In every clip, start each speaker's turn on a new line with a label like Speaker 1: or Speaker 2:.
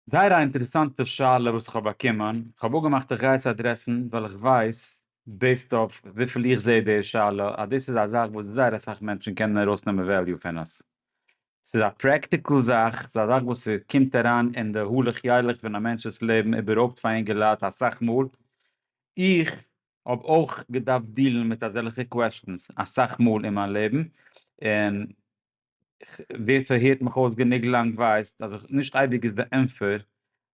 Speaker 1: זייער א אינטערעסאנטע שאלה וואס כ'האב באקומען, כ'האב אפגעמאכט איך גיי עס אדרעסן ווייל איך ווייס בעיסד אויף וויפיל איך זעה די שאלה אז דאס איז א זאך וואס זייער אסאך מענטשן קענען ארויסנעמען וועליו פון עס, ס'איז א פרעקטיקל זאך, ס'איז א זאך וואס ס'קומט אריין אין די הלך ילך פון א מענטש'ס לעבן איבערהויפט פאר אינגעלייט אסאך מאל, איך האב אויך געדארפט דילן מיט אזעלכע קוועשטענס אסאך מאל אין מיין לעבן, און ווער ס'הערט מיך אויס גענוג לאנג ווייסט אז נישט אייביג איז די ענפער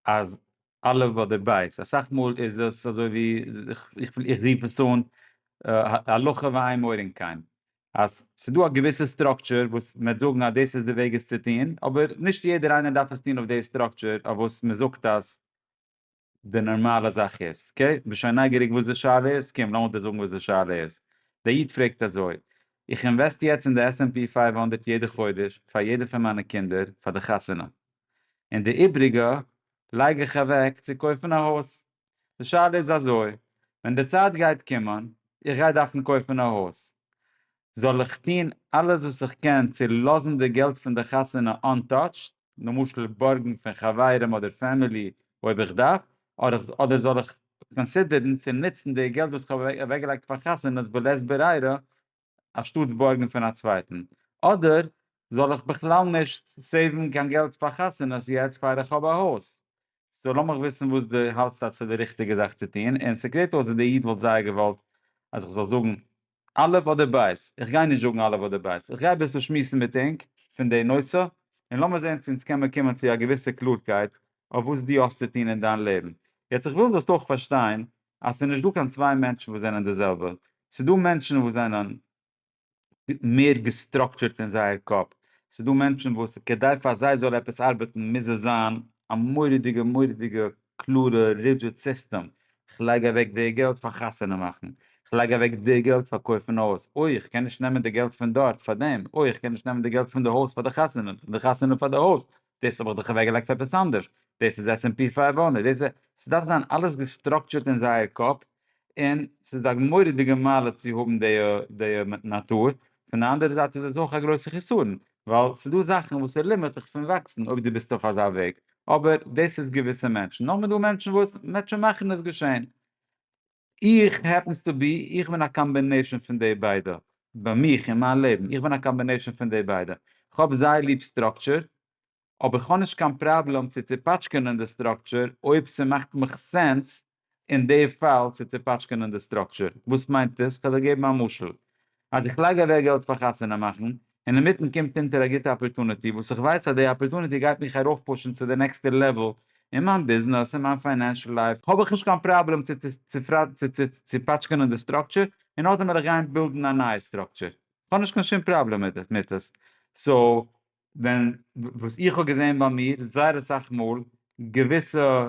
Speaker 1: אז א' אדער ב', אסאך מאל איז עס אזוי ווי איך רוף עס אן הלכה ואין מורין כן, אז ס'דא א געוויסע סטראקטשער וואס מ'וועט זאגן אז דאס איז די וועג עס צו טון, אבער נישט יעדער איינער דארף עס טון אויף די סטראקטשער אויף וואס מ'זאגט אז. די נארמאלע זאך איז. אקעי, כ'בין שוין נייגעריג וואס די שאלה איז, קום לאמיר דיר זאגן וואס די שאלה איז. דער איד פרעגט אזוי, איך אינוועסט יעצט אין די עס ענד פי פֿינף הונדערט יעדע חודש פאר יעדע פון מיינע קינדער פאר די חתונה, און די איבריגע לייג איך אוועק צו קויפן א הויז. די שאלה איז אזוי, ווען די צייט גייט קומען, איך גיי דארפן קויפן א הויז, זאל איך טון אלעס וואס איך קען צו לאזן די געלט פון די חתונה אנטאטשט, למשל בארגן פון חברים אדער פעמילי אויב איך דארף, אדער זאל איך קאנסידערן צו נוצן די געלט וואס כ'האב אוועקגעלייגט פאר חתונות בלית ברירה אנשטאטס בארגן פון א צווייטן, אדער זאל איך בכלל נישט סעיוון קיין געלט פאר חתונות יעצט פאר איך האב א הויז? סאו לאמיך וויסן וואס דו האלטסט אז ס'איז די ריכטיגע זאך צו טון, און ס'קלערט אויס אז דער איד וואלט זייער געוואלט אז איך זאל זאגן א' אדער ב'? איך גיי נישט זאגן א' אדער ב', איך גיי אביסל שמועסן מיט ענק פון די נושא, און לאמיר זען צו אונז קען מען קומען צו א געוויסע קלארקייט אויף וואס דו האסט צו טון אין דיין לעבן. יעצט איך וויל זאלסט אויך פארשטיין אז ס'איז נישט דא קיין צוויי מענטשן וואס זענען די זעלבע, ס'איז דא מענטשן וואס זענען מער געסטראקטשורט אין זייער קאפ, ס'איז דא מענטשן וואס כדי פאר זיי זאל עפעס ארבעטן מוז עס זיין א מורא'דיגע מורא'דיגע קלארע רידזשיט סיסטעם, כ'לייג אוועק די געלט פאר חתונה מאכן, כ'לייג אוועק די געלט פאר קויפן א הויז, אוי איך קען נישט נעמען די געלט פון דארט פאר דעם, אוי איך קען נישט נעמען די געלט פון די הויז פאר די חתונה, פון די חתונה פאר די הויז, דאס האב איך דאך אוועק געלייגט פאר עפעס אנדערש, דאס איז עס ענד פי פייוו הונדערט, דאס איז, ס'דארף זיין אלעס געסטראקטשערט אין זייער קאפ, און ס'איז א מורא'דיגע מעלה צו האבן די נאטור, פון די אנדערע זייט איז עס אויך א גרויסע חסרון, ווייל ס'איז דא זאכן וואס ס'לימערט דיך פון וואקסן אויב דו ביסט אויף אזא וועג, אבער דאס איז געוויסע מענטשן, נאכדעם איז דא מענטשן וואס מענטשן מאכן עס געשען, איך העפענס טו בי, איך בין א קאמבינעישאן פון די ביידע, ביי מיך אין מיין לעבן, איך בין א קאמבינעישאן פון די ביידע, כ'האב זייער ליב סטראקטשער, אבער כ'האב נישט קיין פראבלעם צו צופאטשקענען די סטראקטשער אויב ס'מאכט מיך סענס אין די פאל צו צופאטשקענען די סטראקטשער. וואס מיינט דאס? כ'וועל דיר געבן א משל. אז איך לייג אוועק געלט פאר חתונה מאכן, און אינמיטן קומט אונטער א גוטע אפערטוניטי וואס איך ווייס אז די אפערטוניטי גייט מיך ארויפפושן צו די נעקסטע לעוול אין מיין ביזנעס, אין מיין פיינענשל לייף, האב איך נישט קיין פראבלעם צו צופאטשקענען די סטראקטשער און נאכדעם וועל איך גיין בילדן א נייע סטראקטשער. כ'האב נישט קיין שום פראבלעם מיט עס. סאו, ווען וואס איך האב געזען ביי מיר זייער אסאך מאל געוויסע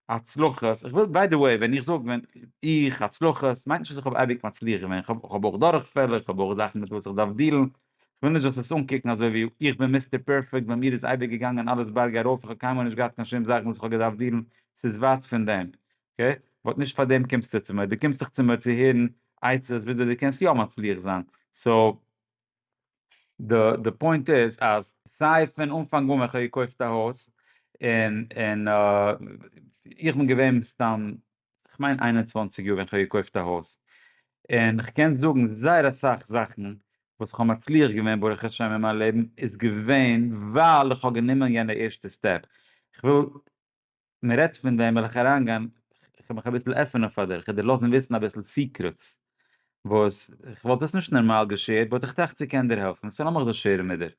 Speaker 1: הצלחות, איך וויל ביי די וועי ווען איך זאג ווען איך הצלחות מיינט נישט אז איך האב אייביג מצליח געווען, איך האב אויך דורכפעלער, איך האב אויך זאכן מיט וואס איך דארף דילן, איך וויל נישט דאס עס אנקוקן אזוי ווי איך בין מיסטער פערפעקט, ביי מיר איז אייביג געגאנגען אלעס בארג ארויף, איך האב קיינמאל נישט געהאט קיין שום זאך וואס איך האב געדארפט דילן, ס'איז ווייט פון דעם, אקעי, באט נישט פאר דעם קומסטו צו מיר, דו קומסט זיך צו מיר צו הערן עצות וויאזוי דו קענסט יא מצליח זיין, סאו די די פוינט איז אז סיי פון אנפאנג אן ווען כ'האב געקויפט א הויז און און איך בין געווען מסתם כ'מיין איין און צוואַנציק יאר ווען כ'האב געקויפט א הויז און כ'קען זאגן זייער אסאך זאכן וואס כ'האב מצליח געווען ברוך השם אין מיין לעבן איז געווען ווייל כ'האב גענומען יענע ערשטע סטעפ, כ'וויל מען רעדט פון דעם וועל איך אריין גיין, איך וויל מיך אביסל עפענען פאר דיר, איך וויל דיר לאזן וויסן אביסל סיקרעטס וואס איך וואלט עס נישט נערמאל געשערט באט איך טראכט ס'קען דיר העלפן סאו לאמיך דאס שערן מיט דיר.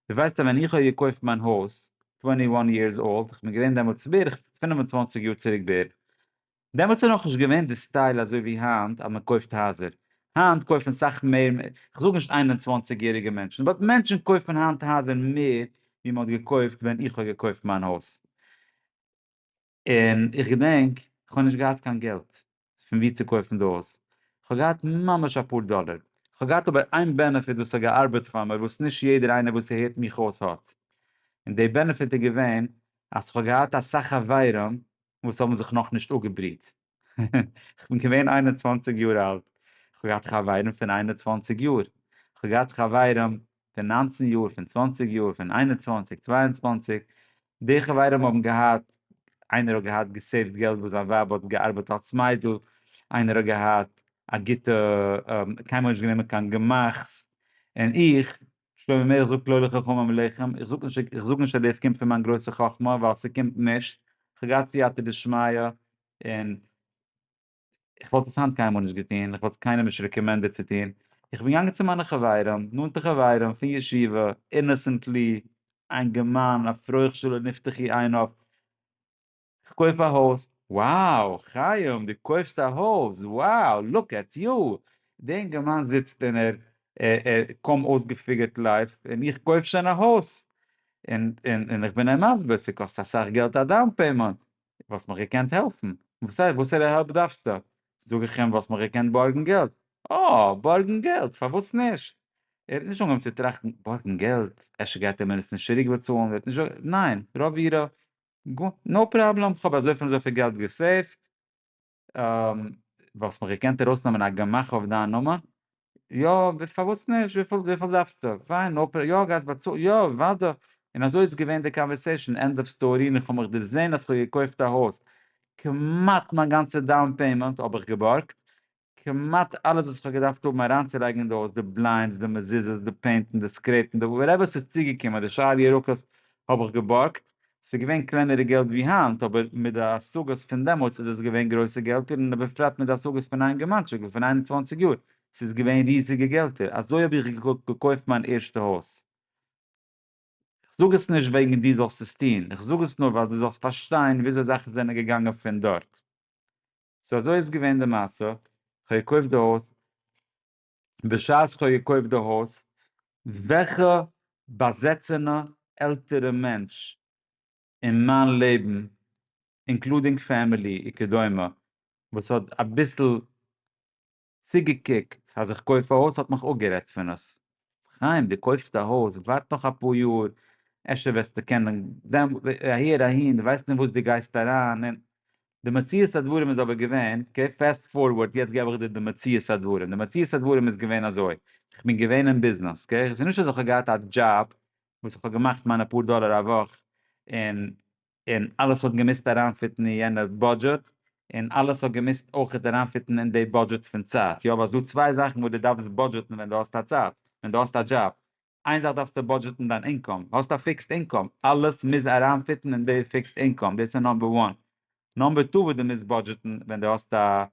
Speaker 1: דו ווייסט אז ווען איך האב געקויפט מיין הויז טווענטי וואן יערס אולד, איך בין געווען דעמאלטס בערך פֿינף און צוואַנציק יאר צוריק בערך, דעמאלטס איז נאכנישט געווען די סטייל אזוי ווי היינט אז מען קויפט הייזער, היינט קויפן סאך מער, כ'זאג נישט איין און צוואַנציק יעריגע מענטשן, באט מענטשן קויפן היינט הייזער מער ווי מען האט געקויפט ווען איך האב געקויפט מיין הויז, און איך געדענק כ'האב נישט געהאט קיין געלט פון ווי צו קויפן די הויז, כ'האב געהאט ממש אפאר דאלער, כ'האב געהאט אבער איין בענעפיט וואס האט געארבעט פאר מיר וואס נישט יעדער איינער וואס הערט מיך אויס האט, און די בענעפיט איז געווען אז כ'האב געהאט אסאך חברים וואס האבן זיך נאכנישט אפגעבריט. איך בין געווען איין און צוואַנציק יאר אלט, איך האב געהאט חברים פון איין און צוואַנציק יאר, איך האב געהאט חברים פון נײַנצן יאר, פון צוואַנציק יאר, פון איין און צוואַנציק, צוויי און צוואַנציק, די חברים האבן געהאט, איינער האט געהאט געסעיווט געלט וואס זיין ווייב האט געארבעט אלס מיידל, איינער האט געהאט א גוטע, קיינמאל נישט גענומען קיין גמח'ס, און איך שלמה מאיר זאגט לא לחכמים עליכם, איך זאג נישט איך זאג נישט אז דאס קומט פון מיין גרויסע חכמה ווייל ס'קומט נישט, כ'האב געהאט סייעתא דשמיא און איך וואלט עס היינט קיינמאל נישט געטון, איך וואלט עס קיינעם נישט רעקאמענדעד צו טון, איך בין געגאנגען צו מיינע חברים, נאנטע חברים פון ישיבה, אינאסענטלי, א אינגערמאן, א פרוכשעלע נפתחי עיניו, כ'קויף א הויז! wow! חיים דו קויפסט א הויז! wow! look at you! די אינגערמאן זיצט אין ער ער קוים אויסגעפיגערט לייף און איך קויף שוין א הויז! און און און כ'בין אים מסביר ס'קאסט אסאך געלט א דאון פעימענט! וואלסט מיך געקענט העלפן? וואס הייסט וואסערע העלפ דארפסטו? זאג איך אים וואלסט מיך געקענט בארגן געלט? אה! בארגן געלט! פארוואס נישט? ער האט נישט אנגעהויבן צו טראכטן, בארגן געלט? אפשר גייט ער מיר עס נישט צוריק באצאלן? ער האט נישט ניין! ר' אבירם גוט, נאו פראבלעם, איך האב אזויפיל און אזויפיל געלט געסעיווט, וואלסט מיך געקענט ארויסנעמען א גמח אויף דיין נאמען? יא, פארוואס נישט, וויפיל דארפסטו? פיין, נאו פראבלעם, יא, גייסט באצאלן? יא, אוודאי, און אזוי איז געווען די קאנווערסעישאן, ענד אוו סטארי, און איך האב מיך דערזען אז איך האב געקויפט א הויז, כמעט מיין גאנצע דאון פעימענט האב איך געבארגט, כמעט אלעס וואס איך האב געדארפט האבן אריינצולייגן אין די הויז, די בליינדס, די מזוזות, די פעינטן, די סקרעיפן, די וואטעווער ס'איז צוגעקומען, די שאר ירקות האב איך געבארגט, ס'איז געווען קלענערע געלט ווי היינט, אבער מיט די השגות פון דעמאלטס איז עס געווען גרויסע געלטער און בפרט מיט די השגות פון א אינגערמאנטשיק ווי פון איין און צוואַנציק יאר, ס'איז געווען ריזיגע געלטער, אזוי האב איך געקויפט מיין ערשטע הויז. כ'זאג עס נישט וועגן דו זאלסט עס טון, כ'זאג עס נאר ווייל דו זאלסט פארשטיין וויאזוי זאכן זענען געגאנגען פון דארט. סאו אזוי איז געווען די מעשה, כ'האב געקויפט די הויז, בשעת כ'האב געקויפט די הויז, וועלכע באזעצענע עלטערע מענטש אין מיין לעבן, אינקלודינג פעמילי וכדומה, וואס האט אביסל צוגעקוקט אז איך קויף א הויז האט מיך אפגערעדט פון עס, חיים דו קויפסט א הויז ווארט נאך אפאר יאר אפשר וועסטו קענען, דעם אהער אהין דו ווייסט אין וואס דו גייסט אריין און, די מציאות הדברים איז אבער געווען, אקעי פעסט פארווארד יעצט געב איך דיר די מציאות הדברים, די מציאות הדברים איז געווען אזוי, איך בין געווען אין ביזנעס אקעי, ס'איז נישט אז איך האב געהאט א דזשאב וואס איך האב געמאכט מיינע פאר דאלער א וואך און און אלעס האט געמוזט אריינפיטן אין יענע בודזשעט, און אלעס האט געמוזט אויכעט אריינפיטן אין די בודזשעט פון צייט, יא ווייל ס'איז דא צוויי זאכן וואס דו דארפסט בודזשעטן ווען דו האסט א צייט, ווען דו האסט א דזשאב, איין זאך דארפסטו בודזשעטן דיין אינקאם, האסט א פיקסד אינקאם, אלעס מוז אריינפיטן אין די פיקסד אינקאם, דאס איז נאמבער וואן. נאמבער טו וואס דו מוזט בודזשעטן ווען דו האסט א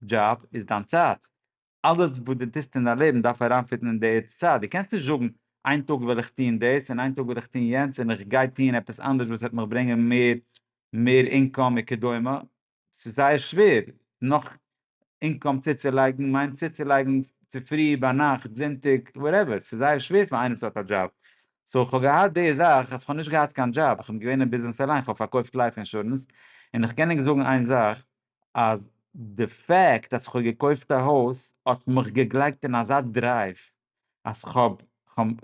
Speaker 1: דזשאב איז דיין צייט, אלעס וואס דו טוסט אין דיין לעבן דארף אריינפיטן אין די עצה, דו קענסט נישט זאגן, איין טאג וועל איך טון דאס און איין טאג וועל איך טון יענץ און איך גיי טון עפעס אנדערש וואס וועט מיך ברענגען מער מער אינקאם וכדומה, ס'איז זייער שווער נאך אינקאם צוצולייגן, מיינט צוצולייגן צופרי, ביינאכט, זונטאג, וואטעווער, ס'איז זייער שווער פאר איינעם וואס האט א דזשאב, סאו כ'האב געהאט די זאך אז כ'האב נישט געהאט קיין דזשאב, כ'בין געווען אין ביזנעס אליין, כ'האב פארקויפט לייף אינשורענס, און כ'קען ענק זאגן איין זאך, אז די פעקט אז כ'האב געקויפט א הויז האט מיך געגלייגט אין אזא דרייוו אז כ'האב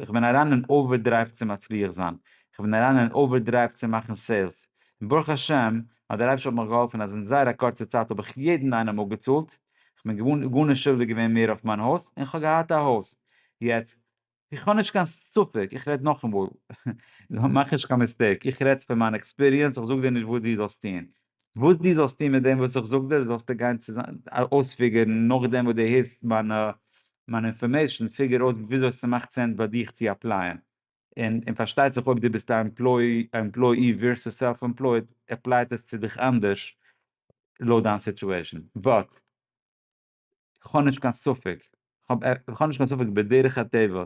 Speaker 1: כ'בין אריין אין אווער דרייוו צו מצליח זיין, כ'בין אריין אין אווער דרייוו צו מאכן סעילס, און ברוך השם אז דער אייבערשטער האט מיך געהאלפן אז אין זייער א קורצע צייט האב איך יעדן איינעם אפגעצאלט, כ'בין געווארן גארנישט שולדיג געווען מער אויף מיין הויז און כ'האב געהאט א הויז, יעצט איך האב נישט קיין ספק, איך רעד נאכאמאל, מאך נישט קיין מיסטעיק, איך רעד פון מיין עקספיריענס, איך זאג דיר נישט וואס דו זאלסט טון. וואס דו זאלסט טון מיט דעם וואס איך זאג דיר, זאלסטו גיין אויספיגערן נאכדעם וואס דו הערסט מיין מיין אינפארמעישן, פיגער אויס וויאזוי ס'מאכט סענס ביי דיך צו אפלייען. און און פארשטייט זיך אויב דו ביסט א עמפלוי א עמפלויאי ווערסוס סעלף עמפלויד, עפלייט עס צו דיך אנדערש לויט דיין סיטועשן. וואט. כ'האב נישט קיין ספק, כ'האב נישט קיין ספק בדרך הטבע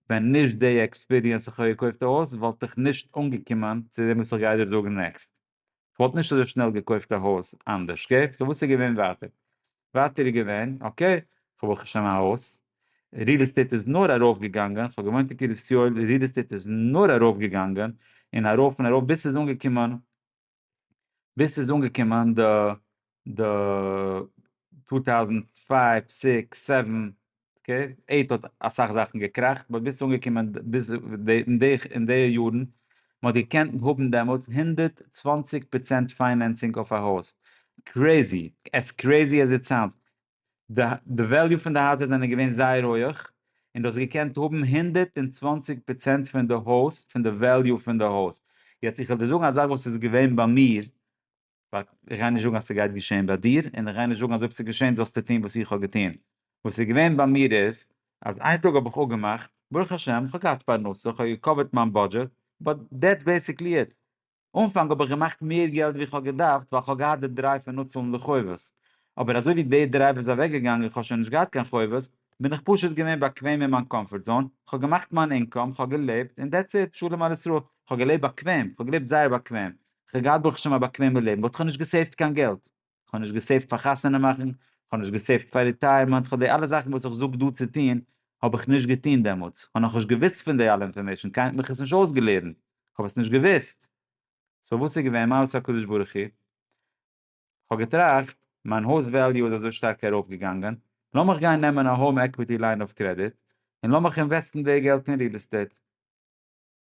Speaker 1: ווען נישט די עקספיריענס איך האב געקויפט א הויז וואלט איך נישט אנגעקומען צו דעם וואס איך גיי דיר זאגן נעקסט, כ'וואלט נישט אזוי שנעל געקויפט א הויז אנדערש אקעי, סאו וואס איז געווען ווייטער? ווייטער איז געווען אקעי כ'האב ברוך השם א הויז, ריעל עסטעיט איז נאר ארויף געגאנגען, כ'האב געוואוינט אין קרית יואל, ריעל עסטעיט איז נאר ארויף געגאנגען און ארויף און ארויף ביז ס'איז אנגעקומען ביז ס'איז אנגעקומען די די טו טאוזענט פייוו סיקס סעווען אקעי עיט האט אסאך זאכן געקראכט באט ביז ס'איז אנגעקומען ביז אין די אין די יארן מ'האט געקענט האבן דעמאלטס הונדערט צוואַנציק פראצענט פיינענסינג אויף א הויז קרעזי עס קרעזי עז איט סאונדס די וועליו פון די הייזער זענען געווען זייער הויעך, און דו האסט געקענט האבן הונדערט און צוואנציג פראצענט פון די הויז, פון די וועליו פון די הויז. יעצט איך וועל דיר זאגן א זאך וואס איז געווען ביי מיר, איך גיי נישט זאגן אז ס'גייט געשען ביי דיר, און איך גיי נישט זאגן אז אויב ס'איז געשען זאלסטו טון וואס איך האב געטון. וואס איז געווען ביי מיר איז, אז איין טאג האב איך אפגעמאכט, ברוך השם, איך האב געהאט פרנסה, איך האב געקאווערט מיין בודזשעט, באט דעטס בעסיקלי איט. אנפאנג האב איך געמאכט מער געלט ווי איך האב געדארפט ווייל איך האב געהאט די דרייוו פון אפצאלן די חובות, אבער אזוי ווי די דרייוו איז אוועק געגאנגען איך האב שוין נישט געהאט קיין חובות, בין איך פשוט געווען באקוועם אין מיין קאמפארט זאון, איך האב געמאכט מיין אינקאם, איך האב געלעבט, און דעטס איט, שלום על ישראל, איך האב געלעבט באקוועם, איך האב געלעבט זייער באקוועם, איך האב געהאט ברוך השם א באקוועמע לעבן, וואלט איך נישט געסעיווט קיין געלט. כ'האב נישט געסעיווט פאר חתונה מאכן, כ'האב נישט געסעיווט פאר ריטייערמענט, כ'האב די אלע זאכן וואס איך זאג דא צו טון האב איך נישט געטון דעמאלטס, כ'האב נאכנישט געוויסט פון די אלע אינפארמעישן, קיינער האט מיך עס נישט אויסגעלערנט, כ'האב עס נישט געוויסט, סאו וואס איז געווען? מה עשה הקדוש ברוך הוא? כ'האב געטראכט, מיין הויז וועליו איז אזוי שטארק ארויף געגאנגען, לאמיך גיין נעמען א האום עקוויטי ליין אויף קרעדיט, און לאמיך אינוועסטן די געלט אין ריעל עסטעיט.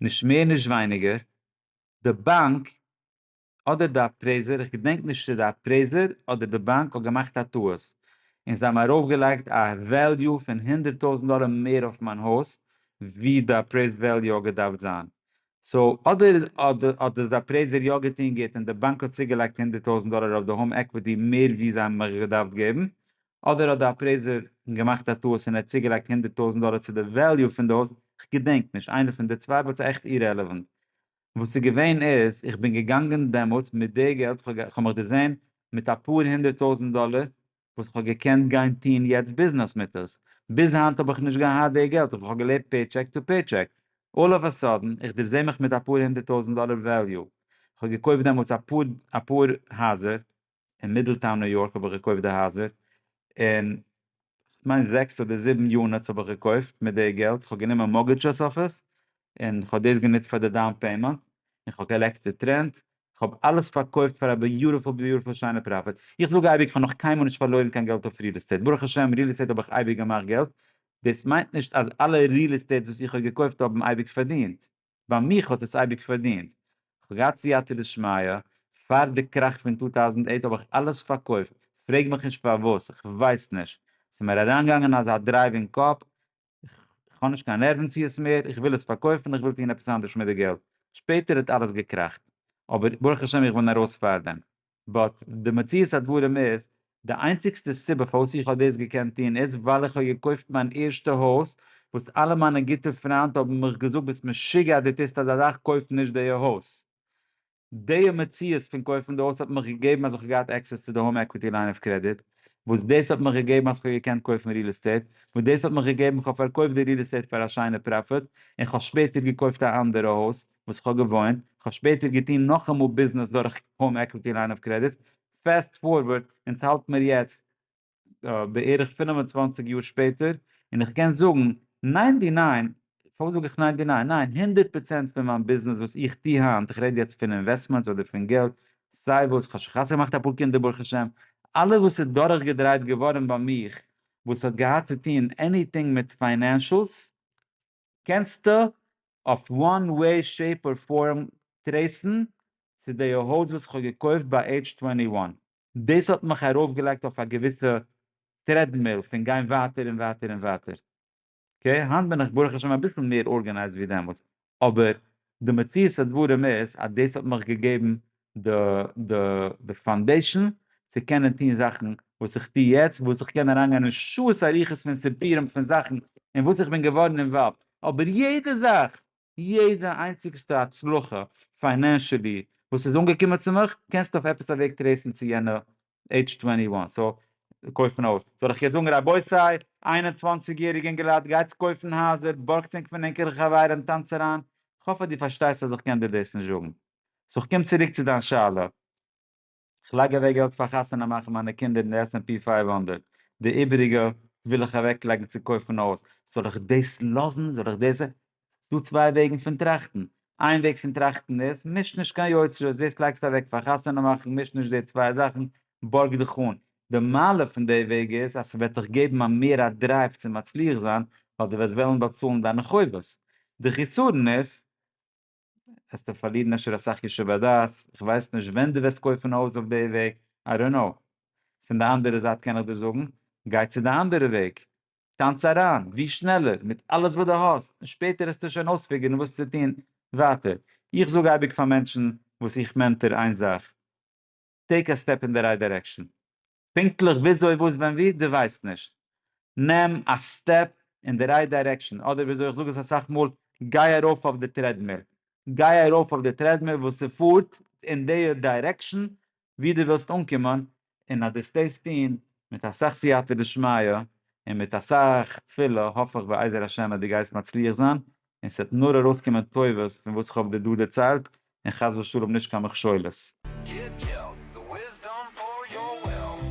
Speaker 1: נישט מער נישט ווייניגער, די באנק אדער די אפרעיזער, איך געדענק נישט צו די אפרעיזער אדער די באנק האט געמאכט א טעות, און זיי האבן ארויפגעלייגט א וועליו פון הונדערט טויזנט דאלער מער אויף מיין הויז ווי די אפרעיזד וועליו האט געדארפט זיין, סאו אדער האט דאס די אפרעיזער יא געטון גוט און די באנק האט צוגעלייגט הונדערט טויזנט דאלער אויף די האום עקוויטי מער ווי זיי האבן מיך געדארפט געבן, אדער האט די אפרעיזער געמאכט א טעות און ער האט צוגעלייגט הונדערט טויזנט דאלער צו די וועליו פון די הויז, כ'געדענק נישט, איינע פון די צוויי, באט ס'איז עכט אירעלעווענט. וואס ס'איז געווען איז, איך בין געגאנגען דעמאלטס מיט די געלט, כ'האב מיך דערזען מיט אפאר הונדערט טויזנט דאלער, וואס כ'האב געקענט גיין טון יעצט ביזנעס מיט עס. ביז היינט האב איך נישט געהאט די געלט, איך האב געלעבט פעיטשעק טו פעיטשעק. אלל אוו א סאדען, איך דערזעה מיך מיט אפאר הונדערט טויזנט דאלער וועליו. כ'האב געקויפט דעמאלטס אפאר אפאר הייזער. אין מידלטאון ניו יארק האב איך געקויפט די הייזער, און כ'מיין זעקס אדער זיבן יוניטס האב איך געקויפט מיט די געלט, כ'האב גענומען מארגעדזשעס אויף עס, און כ'האב דאס גענוצט פאר די דאון פעימענט, און כ'האב געלעקט די טרענט, כ'האב אלעס פארקויפט פאר א ביוטיפול ביוטיפול שיינע פראפיט, איך זאג אייביג כ'האב נאך קיינמאל נישט פארלוירן קיין געלט אויף ריעל עסטעיט, ברוך השם ריעל עסטעיט האב איך אייביג געמאכט געלט, דאס מיינט נישט אז אלע ריעל עסטעיטס וואס איך האב געקויפט האבן אייביג פארדינט, ביי מיך האט עס אייביג פארדינט, כ'האב געהאט סייעתא דשמיא, פאר די קראך פון טו טאוזנט אייט האב איך אלעס פארקויפט, פרעג מיך נישט פארוואס, איך ווייס נישט, ס'איז מיר אריינגעגאנגען אזא דרייוו אין קאפ, כ'האב נישט קיין נערוון צו עס מער, איך וויל עס פארקויפן, איך וויל טון עפעס אנדערש מיט די געלט, שפעטער האט אלעס געקראכט, אבער ברוך השם איך בין ארויס פארדעם. באט די מציאות הדברים איז, די איינציגסטע סיבה פארוואס איך האב דאס געקענט טון איז ווייל איך האב געקויפט מיין ערשטע הויז וואס אלע מיינע גוטע פריינט האבן מיך געזאגט ביסט משוגע אז דו טוסט אזא זאך קויף נישט די הויז. די מציאות פון קויפן די הויז האט מיך געגעבן אז איך האב געהאט עקסעס צו די האום עקוויטי ליין אוו קרעדיט וואס דאס האט מיך געגעבן אז איך האב געקענט קויפן ריעל עסטעיט וואס דאס האט מיך געגעבן איך האב פארקויפט די ריעל עסטעיט פאר א שיינע פראפיט און איך האב שפעטער געקויפט א אנדערע הויז וואס כ'האב געוואוינט, כ'האב שפעטער געטון נאכאמאל ביזנעס דורך האום עקוויטי ליין אוו קרעדיט, פעסט פארווארד און ס'האלט מיר יעצט בערך פֿינף און צוואַנציק יאר שפעטער, און איך קען זאגן ניינטי ניין, פארוואס זאג איך ניינטי ניין? ניין, הונדערט פראצענט פון מיין ביזנעס וואס איך טוה היינט, איך רעד יעצט פון אינוועסטמענטס אדער פון געלט, סיי וואס, כ'האב שוין חתונה געמאכט אפאר קינדער ברוך השם, אלעס וואס איז דורך געדרייט געווארן ביי מיך וואס האט געהאט צו טון עניטינג מיט פיינענשלס, קענסטו אויף וואן וועי שעיפ אר פארם טרעיסן צו די האוז וואס כ'האב געקויפט ביי עידזש טווענטי וואן. דאס האט מיך ארויפגעלייגט אויף א געוויסע טרעדמיל פון גיין ווייטער און ווייטער און ווייטער. אקעי, היינט בין איך ברוך השם אביסל מער ארגענייזד ווי דעמאלטס, אבער די מציאות הדברים איז אז דאס האט מיך געגעבן די די די פאנדעישאן צו קענען טון זאכן וואס איך טו יעצט וואס איך קען אריינגיין אין שעות אריכות פון סיפורים פון זאכן אין וואס איך בין געווארן אינוואלווד אבער יעדע זאך יעדע איינציגסטע הצלחה פיינענשעלי וואס איז אנגעקומען צו מיך קענסטו אויף עפעס א וועג טרעיסן צו יענע עידזש טווענטי וואן סאו קויפן א הויז, זאל איך יעצט זאגן רבותי איין און צוואַנציק יעריגע אינגעלייט גייטס קויפן הייזער, בארגטס ענק פון ענקערע חברים, טאנץ אריין, כ'האף אז דו פארשטייסט אז איך קען דיר דאס נישט זאגן. סאו כ'קום צוריק צו דיין שאלה. כ'לייג אוועק געלט פאר חתונה מאכן מיינע קינדער אין די עס ענד פי פֿינף הונדערט, די איבעריגע וויל איך אוועקלייגן צו קויפן א הויז, זאל איך דאס לאזן זאל איך דאס, ס'דא צוויי וועגן פון טראכטן, איין וועג פון טראכטן איז, מיש נישט קיין יוצרות, דאס לייגסטו אוועק פאר חתונה מאכן, מיש נישט די צוויי זאכן, בארג דיך אן. די מעלה פון די וועג איז אז ס'וועט דיך געבן א מער א דרייוו צו מצליח זיין, ווייל דו וועסט וועלן באצאלן דיינע חובות. די חסרון איז, וועסטו פארלירן אפשר אסאך ישוב הדעת, איך ווייס נישט ווען דו וועסט קויפן א הויז אויף די וועג, איי דאנט קנאו. פון די אנדערע זייט קען איך דיר זאגן, גיי צו די אנדערע וועג, טאנץ אריין ווי שנעלער מיט אלעס וואס דו האסט און שפעטער העסטו שוין אויספיגערן וואס צו טון ווייטער. איך זאג אייביג פאר מענטשן וואס איך מענטאר איין זאך, טעיק א סטעפ אין די רייט דירעקשאן. פונקטליך וויאזוי וואס ווען ווי דו ווייסט נישט, נעם א סטעפ אין די רייט דירעקשאן, אדער וויאזוי איך זאג עס אסאך מאל, גיי ארויף אויף די טרעדמיל. גיי ארויף אויף די טרעדמיל וואס ס'פארט אין די דירעקשאן ווי דו ווילסט אנקומען, און אז דו וועסט דאס טון מיט אסאך סייעתא דשמיא, און מיט אסאך תפילה, האף איך בעזר השם אז דו גייסט מצליח זיין, און ס'וועט נאר ארויסקומען טובות פון וואס כ'האב דיר דא דערציילט, און חס ושלום נישט קיין מכשולות. גיט געלט, די וויסדאם פאר יור וויל.